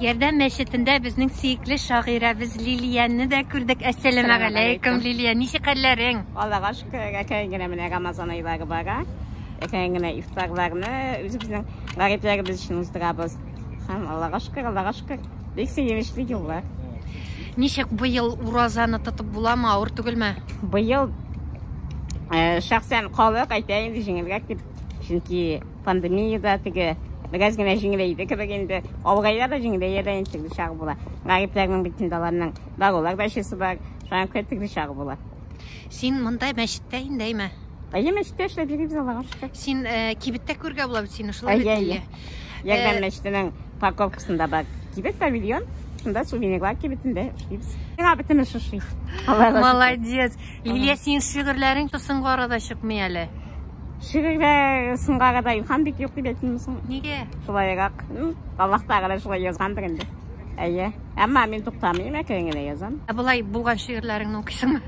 Ярдәм мәчетендә безнең сөекле шагыйрәбез Лилияне дә күрдек. Әссәламә галәйкүм, Лилия, ничек хәлләрең? Аллага шөкер, әкрен генә менә Рамазан айлары бара. Әкрен генә ифтарларны үзебезнең гарипләребез өчен уздырабыз. Һәм Аллага шөкер, Аллага шөкер. Бик сөенечле еллар. Ничек быел уразаны тотып буламы, авыр түгелме? Быел э, шәхсән халык әйтә инде җиңелрәк дип. Чөнки Пандемия да теге бераз генә җиңеләйде кебек инде. Авырайда да, җиңеләя дә инде, төрле чагы була. Гарипләрнең бит инде аларның дарулар да эчәсе бар. Шуңа күрә төрле чагы була. Син монда мәчеттә инде, әйме? Әйе, мәчеттә эшләп йөрибез, Аллага шөкер. Син кибеттә күрергә була бит сине, шулай бит, Лилия? Ярдәм мәчетенең парковкасында бар кибет, павильон. Шунда сувенирлар кибетендә эшлибез. Миңа бөтен эш ошый. Аллага шөкер. Молодец. Лилия, синең шигырьләрең тылсымга арада чыкмый әле. Шигырьдә сынга гада илһам бик юк дип әйтмим соң. Нигә? Шулайрак. Аллаһ Тәгалә шулай язгандыр инде. Әйе. Әмма мин туктамыйм, әкрен генә язам. Ә болай булган шигырьләреңне укыйсыңмы?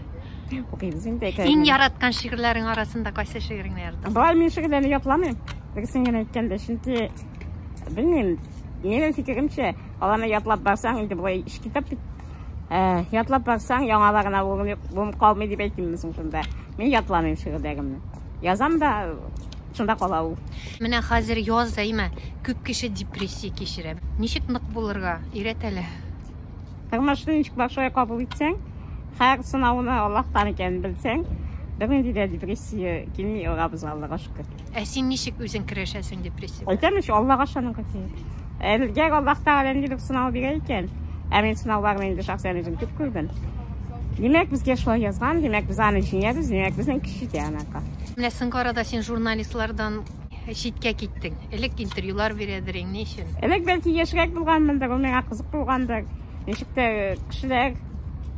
Укыйбыз инде әкрен. Иң яраткан шигырьләрең арасында кайсы шигыреңне яратасың? Болай мин шигырьләрне ятламыйм. Дөресен генә әйткәндә, чөнки белмим, минем фикеремчә, аларны ятлап барсаң, инде болай китап бит. Ятлап барсаң, яңаларына урын калмый дип әйтимме соң шунда? Мин ятламыйм шигырьдәгемне. Язам да, шунда кала ул. Менә хәзер яз да имә, күп кеше депрессия кичерә. Ничек нык булырга? Өйрәт әле. Тормышны ничек бар шулай кабул итсәң, һәр сынауны Аллаһтан икәнен белсәң, бернинди дә депрессия килми, Раббыбызга, Аллага шөкер. Ә син ничек үзең көрәшәсең депрессия белән? Әйтәм бит, Аллага ышанырга кирәк. Әгәр Аллаһ Тәгалә нинди бер сынау бирә икән, ә мин сынауларны инде шәхсән үзем күп күрдем. Димәк, безгә шулай язган, димәк, без аны җиңәбез, димәк, безнең көч җитә анарга. Менә соңгы арада син журналистлардан читкә киттең. Элек интервьюлар бирәдерең, ни өчен? Элек бәлки яшьрәк булганмындыр, ул миңа кызык булгандыр. Ничек тә кешеләр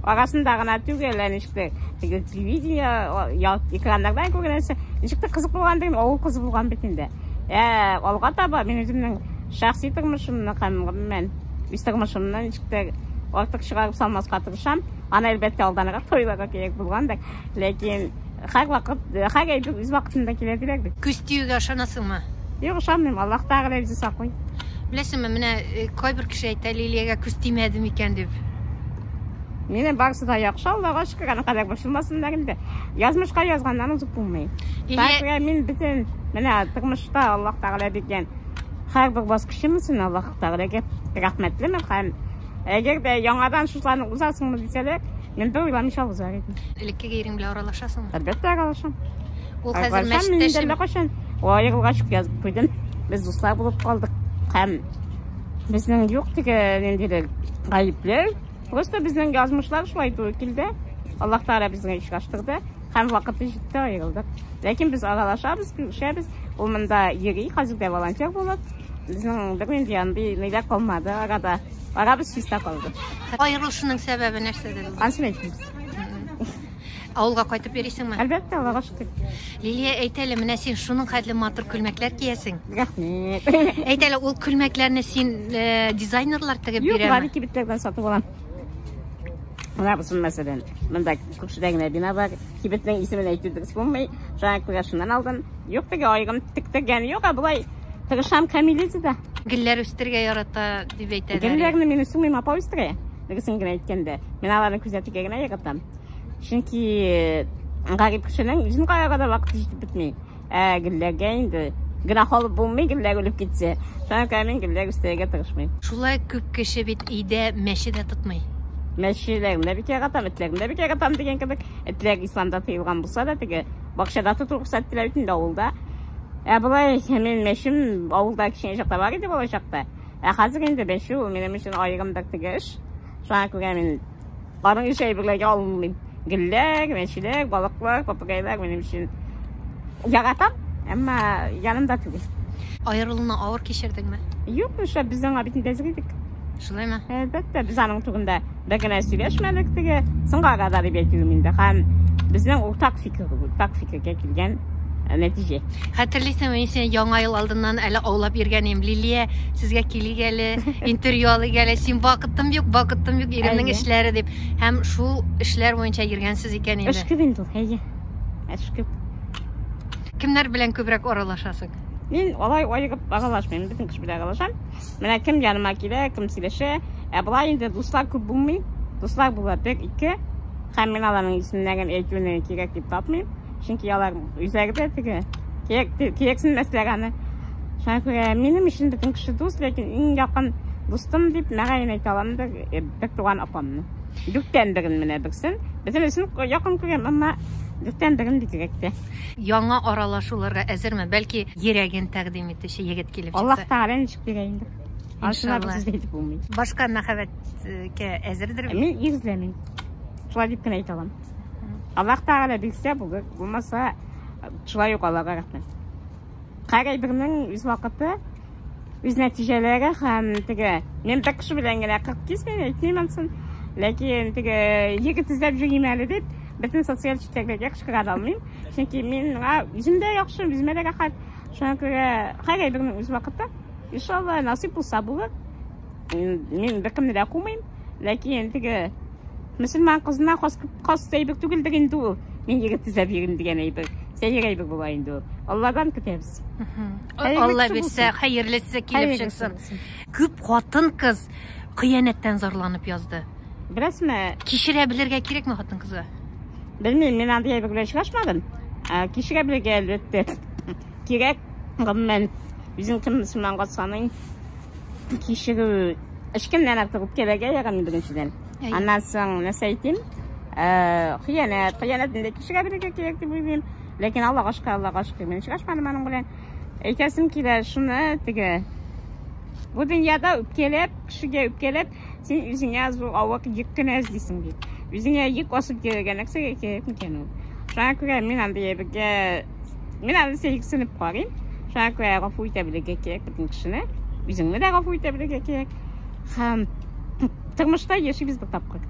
арасында гына түгел, ә ничек тә телевидение, экраннардан күргәнсә, ничек тә кызык булган дигән, авыл кызы булган бит инде. Ә алга таба мин үземнең шәхси тормышымны һәм гомумән үз тормышымны ничек тә артык чыгарып салмаска тырышам. Аны әлбәттә алданрак тойларга кирәк булгандыр, ләкин Һәрвакыт, һәр әйбер үз вакытында килә диләр бит. Көз тиюгә ышанасыңмы? Юк, ышанмыйм. Аллаһ Тәгалә үзе саклый. Беләсеңме, менә э, кайбер кеше әйтә, Лилиягә күз тимәде микән дип. Минем барысы да яхшы, Аллага шөкер, аны кадәр борчылмасыннар инде. Язмышка язганнан узып булмый. Лилия... мин бөтен менә тормышта Аллаһ Тәгалә биргән һәрбер баскычым өчен Аллаһ Тәгаләгә рәхмәтлемен һәм әгәр дә яңадан шушыларны узасыңмы дисәләр, Мин бер уйламыйча узар идем. Элеккеге ирең белән аралашасыңмы? Әлбәттә, аралашам. Ул хәзер мәчеттәшеме? Кайчан? Аерылга чык язып куйдым. Без дуслар булып калдык. Һәм безнең юк теге ниндидер гаепләр. Просто безнең язмышлар шулай туры килде. Аллаһ Тәгалә безне очраштырды һәм вакыты җитте аерылдык. Ләкин без аралашабыз, күрешәбез. Ул монда йөри, хәзер дә волонтер булып. Безнең бернинди андый ниләр калмады арада. Арабыз чиста калды. Аерылышының сәбәбе нәрсәдә? Ансын әйтмибез. Авылга кайтып йөрисеңме? Әлбәттә, Аллага шөкер. Лилия, әйт әле, менә син шуның хәтле матур күлмәкләр киясең. Рәхмәт. Әйт әле, ул күлмәкләрне син э, дизайнерлар тегеп Юк, бирәме? Юк, кибетләрдән сатып алам. Менә бу мәсәлән, монда күршедә генә бина бар. Кибетнең исемен әйтү дөрес булмый. Шуңа күрә шуннан алдым. Юк теге айгым тектергән юк, ә болай тырышам камилизида. Гөлләр үстергә ярата дип әйтәләр. Гөлләрне мин үстермим, апа үстерә. Дөресен генә әйткәндә, мин аларны күзәтергә генә яратам. Чөнки гарип кешенең җинкаяга да вакыты җитеп бетми. Ә гелләгә инде гөнаһ алып булмый, гелләк үлеп китсә. Шуңа күрә мин гелләк үстерергә тырышмыйм. Шулай күп кеше бит өйдә мәче дә тотмый. Мәчеләрен дә бик яратам, этләрен дә бик яратам дигән кебек. Этләр исламда тыелган булса да теге бакчада тоту рөхсәт ителә бит инде авылда. Ә болай мин мәчем авылда кичен чакта бар иде балачакта. Ә хәзер инде мәче ул минем өчен аерым бер теге эш. Шуңа күрә мин Аның өчен әйберләргә алынмыйм. Гөлләр, мәчеләр, балыклар, попугайлар минем өчен яратам, әмма янымда түгел. Аерылуны авыр кичердеңме? Юк, нишләп, без аңа бит нидәзер идек. Шулаймы? Әлбәттә, без аның турында бер генә сөйләшмәдек теге, соңгы арада дип әйтүем инде. Һәм безнең уртак фикер, уртак фикергә килгән Ә нәтиҗә? Хәтерлисең, мин сине яңа ел алдыннан әле аулап йөргән идем. Лилия, сезгә килик әле, интервью алыйк әле. Син вакытым юк, вакытым юк, иремнең эшләре дип. Һәм шул эшләр буенча йөргәнсез икән инде. Эш күп инде ул, әйе. Эш күп. Кемнәр белән күбрәк аралашасың? Мин алай айыгып аралашмыйм, бөтен кеше белән аралашам. Менә кем яныма килә, кем сөйләшә. Ә болай инде дуслар күп булмый. Дуслар була бер, ике. Һәм мин аларның исемнәрен әйтүне кирәк дип тапмыйм. Чөнки алар үзәгедә теге кияксенмәсләр аны. Шуңа күрә минем өчен бөтен кеше дус, ләкин иң якын дустым дип мәгәен әйтә алам да э, бер туган апамны. Дүрттән берен менә берсен. Безнең өчен якын күрәм, әмма дүрттән берен бигрәк тә. Яңа аралашуларга әзерме? Бәлки йөрәген тәкъдим итүче егет килеп чыкса. Аллаһ Тәгалә ничек бирә инде. Ансына без сүз әйтеп булмый. Башка мәхәббәткә әзердер бит? Мин ир эзләмим. Шулай дип кенә әйтә алам. Аллах Тәгалә бирсә булыр, булмаса шулай ук Аллага рәхмәт. Һәр бернең үз вакыты, үз нәтиҗәләре һәм теге мин бер кеше белән генә 40 кисмим, әйтмим ансын. Ләкин теге егет эзләп йөрим әле дип, бөтен социаль челтәрләргә кычкыра да алмыйм. Чөнки мин үземдә яхшы, үземә дә рәхәт. Шуңа күрә һәр бернең үз вакыты. Иншалла, насыйп булса булыр. Мин беркемне дә кумыйм, ләкин теге Мөселман кызына хас, хас әйбер түгелдер инде ул. Мин егет төзәп йөрим дигән әйбер. Сәер әйбер була инде ул. Алладан көтәбез. Алла бирсә, хәерлесе килеп чыксын. Күп хатын кыз кыянәттән зарланып язды. Беләсме? Кичерә белергә кирәкме хатын кызга? Белмим, мин андый әйбер белән очрашмадым. Ә, Кичерә белергә әлбәттә. Кирәк, гомумән, үзең кем мөселманга саныйм. кичерү һичкемнән артык үпкәләргә ярамый беренчедән аннан соң нәрсә әйтим хыянәт хыянәтне дә кичерәберергә кирәк дип уйлыйм ләкин аллага шөкер аллага шөкер мин очрашмадым аның белән әйтәсем килә шуны теге бу дөньяда үпкәләп кешегә үпкәләп Син үзеңә зур авыр йөк кенә эзлисең бит. Үзеңә йөк асып йөрергә нәрсәгә кирәк микән ул? Шуңа күрә мин анда ябергә, мин анда сәйксенеп карыйм. Шуңа күрә гафу итә белергә кирәк бөтен кешене. Үзеңне дә гафу итә белергә кирәк. Һәм тормышта яшибез бер тапкыр.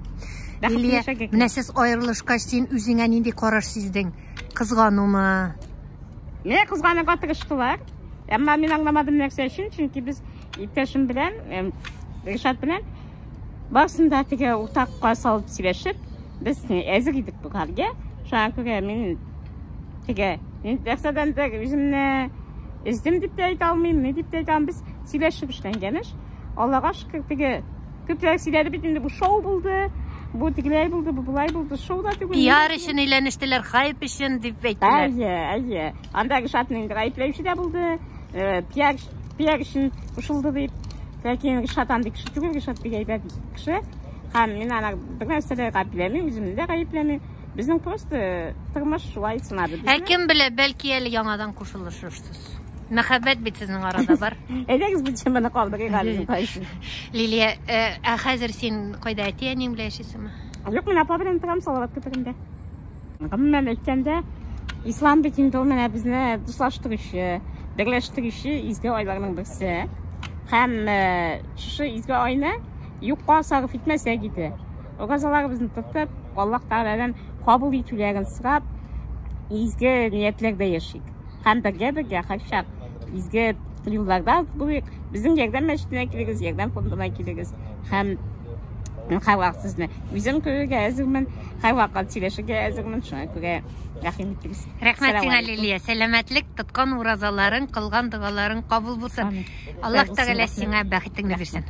Илия, менә сез аерылышкач, син үзеңә нинди караш сиздең? Кызганумы? Менә кызганырга тырыштылар. Әмма мин аңламадым нәрсә өчен, чөнки без Иптәшем белән, Ришат белән барсын да теге уртакка салып сөйләшеп, без әзер идек бу хәлгә. Шуңа күрә мин теге нәрсәдән дә үземне өздем дип тә әйтә алмыйм, ни дип тә әйтә алмыйм. Без сөйләшеп эшләнгән эш. Аллага шөкер, теге күпләр сөйләде бит инде бу шоу булды. Бу тегеләй булды, бу болай булды. Шоу да түгел. Пиар өчен әйләнештеләр, хайп өчен дип әйттеләр. Әйе, әйе. Анда Ришатның гаепләүче дә булды. Э, пиар Төяк өчен кушылды дип. Ләкин Гөлшат андый кеше түгел, Гөлшат бик әйбәт кеше. Һәм мин аны бер нәрсә дә гаепләмим, үземне дә гаепләмим. Безнең просто тормыш шулай сынады безне. Ә кем белә, бәлки әле яңадан кушылышырсыз. Мәхәббәт бит сезнең арада бар. Әйдәгез бу теманы калдырыйк әле мин кайсы. Лилия, э, ә хәзер син кайда әти-әниң белән яшисеңме? Юк, мин апа белән торам Салават күперендә. Гомумән әйткәндә, ислам бит инде ул менә безне дуслаштыручы, берләштерүче изге айларның берсе. Һәм э, шушы изге айны юкка сарыф итмәсәк иде. Уразаларыбызны тотып, Аллаһ Тәгаләдән кабул итүләрен сорап, изге ниятләрдә яшик. һәм бергә-бергә кайчак изге юлларда булыйк. Безнең ярдәм мәчетенә килегез, ярдәм фондына килегез һәм һәрвакыт сезне үзем күрергә әзермен, һәрвакыт сөйләшергә әзермен, шуңа күрә рәхим итегез. Рәхмәт сиңа, Лилия. Сәламәтлек, тоткан уразаларың, кылган догаларың кабул булсын. Аллаһ Тәгалә сиңа бәхетеңне бирсен.